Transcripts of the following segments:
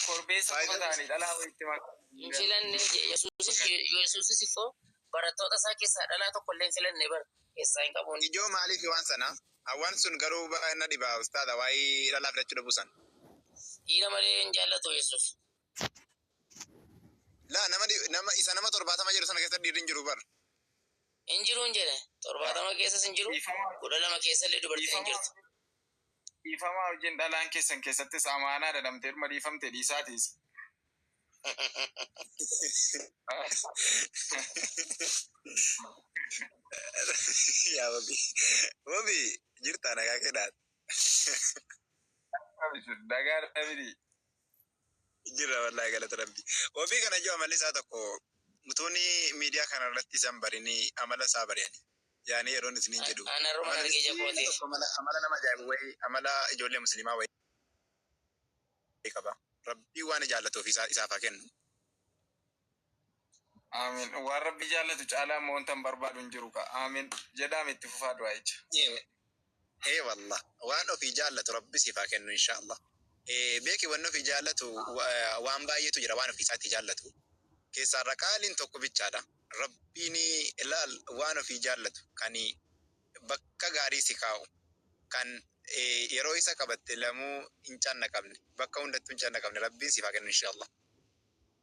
Korbeessa qofa ta'anii dhalaa walitti makaa. Hin filanne Yesuusis Yesuusis immoo barattoota isaa keessaa dhalaa tokko illee hin filanne bar keessaa hin qabuun. Ijoo maaliif waan sana? Awwan sun garuu ba'a na dhiba ustaaza waa'ee dhalaa filachuu dhabuu san. Dhiira malee hin jaallatu Yesuus. Laa nama, nama isa nama torbaatama jedhu sana keessa dhiirri hin jiru bar. Hin jiruun jedhe. Torbaatama keessas hin jiru, kudha lama keessallee dubartiin hin jirtu. Dhiifama wajjin dhalaan keessan keessattis amaanaa dha, dhamtee dhuma dhiifamte dhiisaati isa. Yaa wabii. Wabii jirtaa nagaa kee dhaate. Abishir nagaa dhabini. Jirra wallahi galata rabbi. Ofii kana iyyuu amalli isaa tokko mutuuni miidiyaa kana irratti isan barini amala isaa bari'ani. Yaani yeroon isiniin jedhu. An arruman Amalli arge ija isaa kooti. tokko amala amala nama ajaa'ibu wayii amala ijoollee musliimaa wayii qaba. Rabbii waan jaallatu ofii isaa isaaf haa kennu. Aamiin. Waan Rabbi jaallatu caalaa immoo wantan barbaadu hin jiru ka. Aamiin. Jedhaam itti fufaa du'aa'icha. Ee wallah waan ofii jaallatu rabbi siif haa kennu inshallah beeki wanni ofii jaallatu waan baay'eetu jira waan ofii isaatii jaallatu keessaarra qaaliin tokko bichaadha rabbiin ilaal waan ofii jaallatu kan bakka gaarii si kaa'u kan yeroo isa qabatte lamuu hin cannaqamne bakka hundattuu hin cannaqamne rabbiin siif haa kennu inshallah.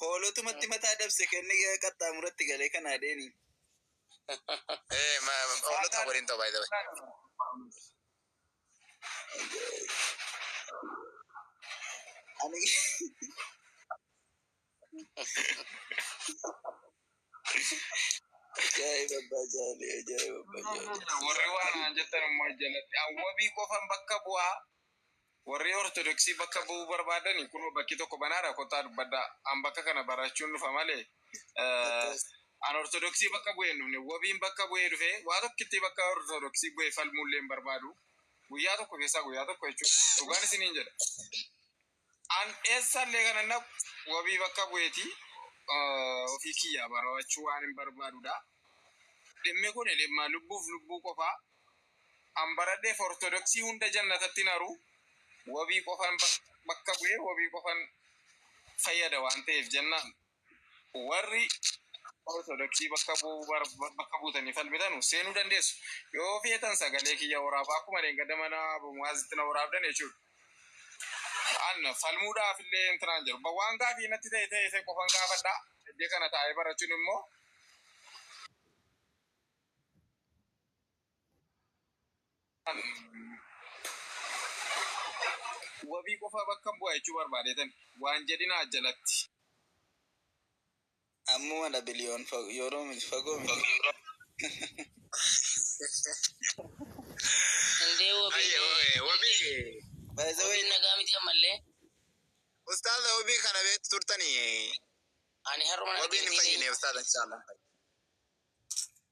Hoolotumatti mataa dabse kenni qaxxaamuratti galee kan adeeni. Eh, ma, ma, hoolota waliin ta'u baay'ee ta'e. Ani Ajaa'iba abbaa jaalee ajaa'iba abbaa jaalee. Warri waan naan jettan immoo jalatti awwabii qofan bakka bu'aa. Warri ortodoksii bakka bu'uu barbaadani kunoo bakki tokko banaadha kottaa dubbadhaa. An bakka kana barachuun dhufa malee an ortodoksii bakka bu'ee hin dhufne wabiin bakka bu'ee dhufe waa tokkittii bakka ortodoksii bu'ee falmuullee hin barbaadu. Guyyaa tokko keessaa guyyaa tokko jechuudha. Dhugaan isiniin jedha. An eessallee kana hin dhaqu. Wabii bakka bu'eeti. Ofii kiyyaa barawachuu waan hin barbaadudha. Dhimmi kun dhimma lubbuuf lubbuu qofa. An baradheef Ortodoksii hunda jannatatti hin haru. Wabii qofan bakka bu'ee wabii qofan fayyada waan ta'eef jennaan. Warri Ortodoksii bakka buutanii falmitanu seenuu dandeessu. Yoo feetan sagalee kiyya waraabaa akkuma dheengadda mana Abu Mu'aazitti na waraabdan jechuudha. An falmuudhaaf illee intinaan jiru. Ba- Waan gaafii natti ta'e ta'e ta'e qofan gaafadha. Iddee kana taa'ee barachuun immoo Wabii qofaa bakkan bu'a jechuu barbaadeetani. Waan jedhinaa jalatti. Ammuma dha biliyoon fag yooroo miti fagoo miti. By the way. Ustaaza wabii kana beektu turtanii? Wabiin hin fayyine ustaaza inshallah.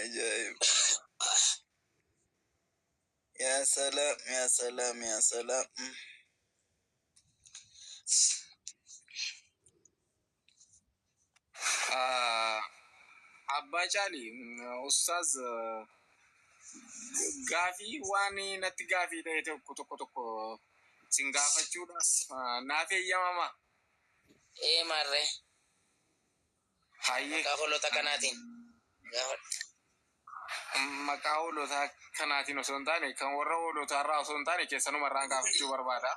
Ajaa'ib. Yaa salaam, yaa salaam, yaa salaam. Abbaa Caali, Ustaaz gaafii waan natti gaafii ta'e tokko tokko sin gaafachuudhaaf naaf eeyyamamaa? Ee maarre. Hayyee. Maqaa hoolota kanaatiin. Gaafadhu. Maqaa hoolota kanaatiin osoo hin taane, kan warra hoolotaa irraa osoo hin taane keessanuma irraan gaafachuu barbaada.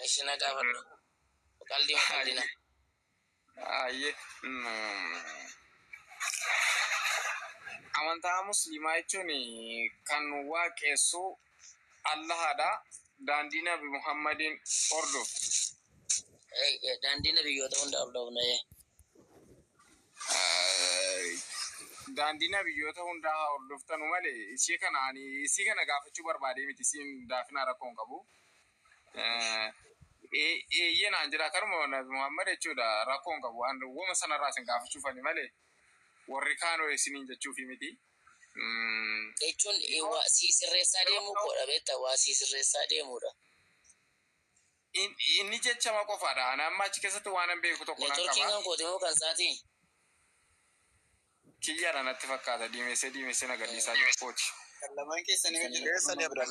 Eshi na gaafadhu. Qaldii ma qaldina. Hayyee. Amantaa musliimaa jechuun kan waaqessu Allahaadha. Daandii Nabi Muhammadiin hordofna. Eeyyee, daandii nabiyyoota hunda hordofna. Ee. Daandii nabiyyoota hundaa haa hordoftanu malee ishee kana ani isii kana gaafachuu barbaadee miti isiin daafinaa rakkoo hin qabu. Eh, ee- Eeyyee naan jedha kanuma Nabi Muhammad jechuudha rakkoo hin qabu. An wama sanarraa isin gaafachuuf ani malee warri kaanoo isiniin jechuufi miti. jechuun waa sii sirreessaa deemuu koodha beekta waa sii sirreessaa deemuudha. In- inni jechama qofaadha ana amma achi keessatti waanan beeku tokko nan Neetworkiin qaba kan kooti moo kan isaatii? kiyyaadha natti fakkaata diimessee diimessee na gadhiisaa jiru kooti Kan lamaan keessan yoo jira. Keessa ni abdan.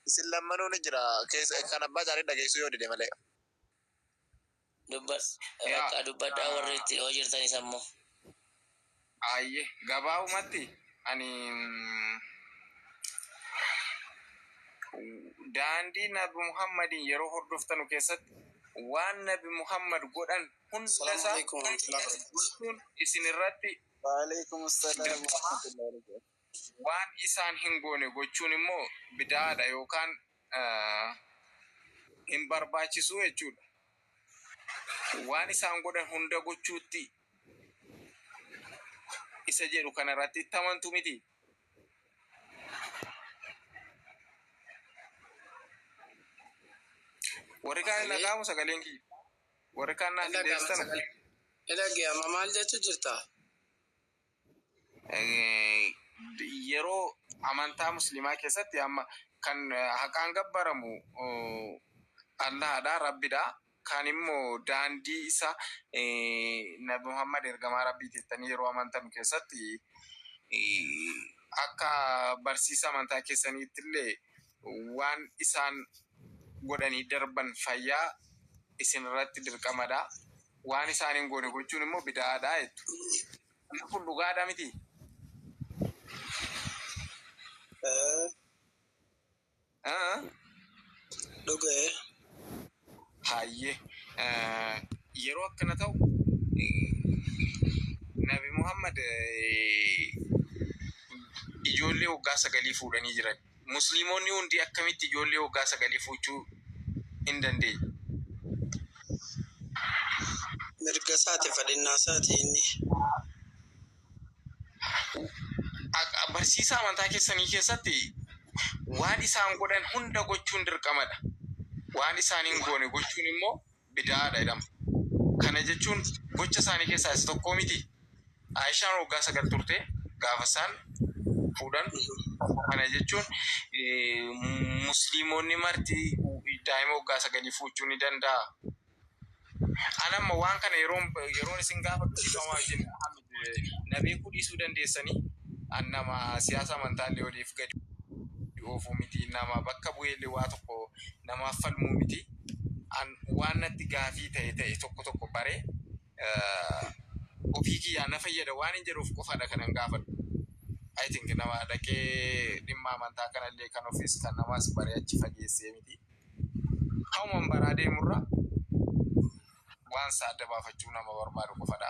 Isin lammanuu ni jira. Keessa kan abbaa isaanii dhageessuu yoo dide malee. Dubbadhu. Yaa, Bakka dubbadhaa ah. warri itti yoo jirtanis ammoo. Aayye gabaabumatti ani mm, daandii nabi muhammadiin yeroo hordoftanu keessatti waan nabi muhammad godhan hunda Salaamu isaa alaikum warahmatullahi wabarakatuh. bulchuun isin irratti Waaleykum salaam wa rahmatullahi wa barakaatuh. Waan isaan hin goone gochuun immoo bida'aadha yookaan hin barbaachisu jechuudha. Waan isaan godhan hunda gochuutti isa jedhu kana irratti itti amantu miti. Warri kaan hin Sagalee dhaga'amu sagaleen kiyya. Warri kaan naaf hin dhaga'ama deebistan. sagalee. Ni dhaga'ama maal jechuu jirta? Yeroo amantaa musliimaa keessatti amma kan haqaan gabbaramu Allaahadha, Rabbidha. Kan immoo daandii isa Nabi Muhammad ergamaa Rabbiiti jettanii yeroo amantan keessatti akka barsiisa amantaa keessaniitti illee waan isaan godhanii darban fayyaa isinirratti dirqamadha. Waan isaan hin goone gochuun immoo bida'aadha jettu. Wanti kun dhugaadha miti? Dhuga'e. Hayyee. Yeroo akkana ta'u Nabi Muhammad ijoollee waggaa sagalii fuudhanii jiran. Musliimonni hundi akkamitti ijoollee waggaa sagalii fuuchuu hin dandeenye? Mirgasaati, fedhinnaasaati inni. Akka barsiisa amantaa keessanii keessatti waan isaan godhan hunda gochuun dirqamadha. Waan isaan hin goone gochuun immoo bida'aadha jedhama. Kana jechuun gocha isaanii keessaa isa tokkoo mitii? Aa'ishaan waggaa sagal turte gaafa isaan fuudhan. Kana jechuun musliimonni marti daa'ima waggaa sagalii fuuchuu ni danda'a. An amma waan kana yeroon yeroon isin gaafadhu dhiifama wajjin Na beekuu dhiisuu dandeessanii, an nama siyaasa amantaallee oliif gadi oofuu miti, nama bakka bu'eellee waa tokko namaaf falmuu miti. An waan natti gaafii ta'e ta'e tokko tokko baree ofii kiyyaa na fayyada waanin jedhuuf qofadha kanan gaafadhu. I think nama dhaqee dhimma amantaa kanallee kan ofiis kan namaas baree achi fageessee miti. Hawuman baraa deemurra waansaa adda baafachuu nama barbaadu qofadha.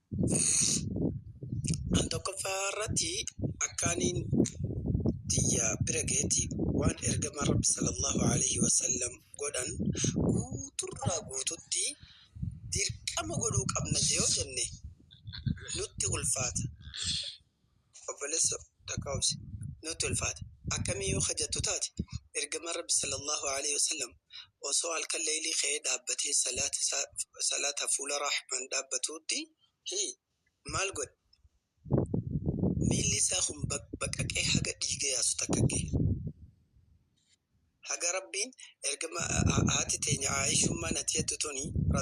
An tokkoffaa irratti akkaaniin tiyya bira geeti waan ergama Rabbi sallallahu alayhi wa sallam godhan guuturraa guututti dirqama godhuu qabna yoo jenne nutti ulfaata. Obbolesso takka obsi. Nutti ulfaate. Akkamii yoo ka jattu taate, Ergamaan Rabbi sallallaahu aleeyhi wasallam osoo halkan leeylii ka'ee dhaabbatee salaata isaa salaata fuula Rahmaan dhaabbatuutti, hii, maal godhe? Miilli isaa kun baqbaqaqee haga dhiiga yaasu takka gahe. Haga Rabbiin Ergama haati teenya Aa'ishummaan ati jattu tuni, ra.